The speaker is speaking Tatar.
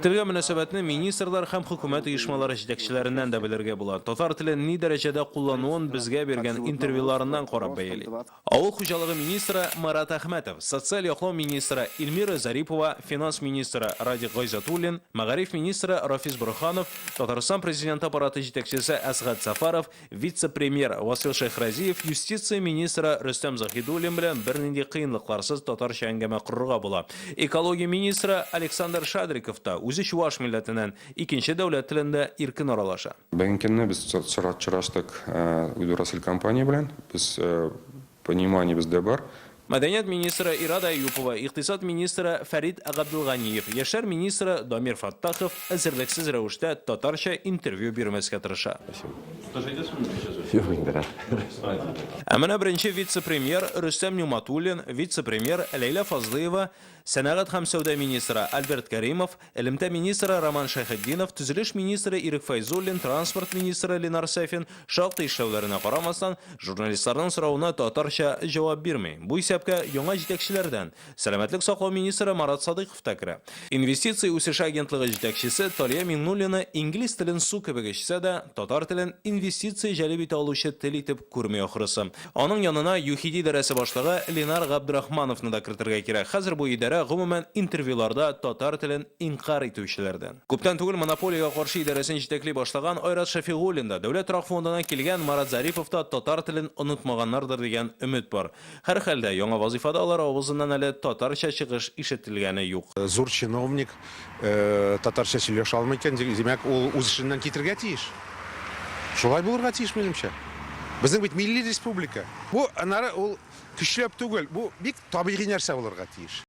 Телгә мөнәсәбәтне министрлар һәм хөкүмәт оешмалары җитәкчеләреннән дә белергә була. Татар телен ни дәрәҗәдә куллануын безгә биргән интервьюларыннан карап бәяли. Авыл хуҗалыгы министры Марат Әхмәтов, социаль яклау министры Илмира Зарипова, финанс министры Радик Гайзатуллин, мәгариф министры Рафис Борһанов, Татарстан Президенты Аппараты җитәкчесе Әсгать Сафаров, Вице-премьер Васил Шәйхразиев юстиция министры Рөстәм Заһидуллин белән бернинди кыенлыкларсыз татарча әңгәмә корырга була. Экология министры Александр Шадриков та, үзе чуваш милләтеннән, икенче дәүләт телендә иркен аралаша. Бүгенге көнне без чыраштык Удуросиль компания белән. Без Пониманиебез дә бар. Мәдәният министры Ирада Әюпова, икътисад министры Фәрит Габделганиев, яшьләр министры Дамир Фәттахов эзерлексез рәвештә татарча интервью бирмәскә тырыша. Юк инде, рәхмәт. Ә менә беренче вице-премьер Рөстәм Нигъматуллин, вице-премьер Ләйлә Фазлыева, сәнәгать һәм сәүдә министры Альберт Кәримов, Элемтә министры Роман Шәйхетдинов, төзелеш министры Ирек Фәйзуллин, транспорт министры Ленар Сафин, шактый эшләүләренә карамастан, журналистларның соравына татарча җавап бирми. Бу исәпкә яңа җитәкчеләрдән сәламәтлек саклау министры Марат Садыйков та керә. Инвестиция үсеше агентлыгы җитәкчесе Талия Миңнуллина инглиз телен су кебек эчсә дә, татар телен инвестиция җәлеп итә алучы тел итеп күрми ахрысы. Аның янына ЮХИДИ идарәсе башлыгы Ленар Габдрахмановны да кертергә кирәк. Хәзер бу идарә, гомумән, интервьюларда татар телен инкарь итүчеләрдән. Күптән түгел Монополиягә каршы идарәсен җитәкли башлаган Айрат Шәфигуллин да, Дәүләт торак фондыннан килгән Марат Зарипов та татар телен онытмаганнардыр дигән өмет бар. Һәрхәлдә, яңа вазыйфада алар авызыннан әле татарча чыгыш ишетелгәне юк. Зур чиновник, Татарча сөйләшә алмый икән, димәк, ул үз эшеннән китергә тиеш. Шулай булырга тиеш, минемчә. Безнең бит милли республика. Бу, аннары, ул көчләп түгел, бу бик табигый нәрсә булырга тиеш.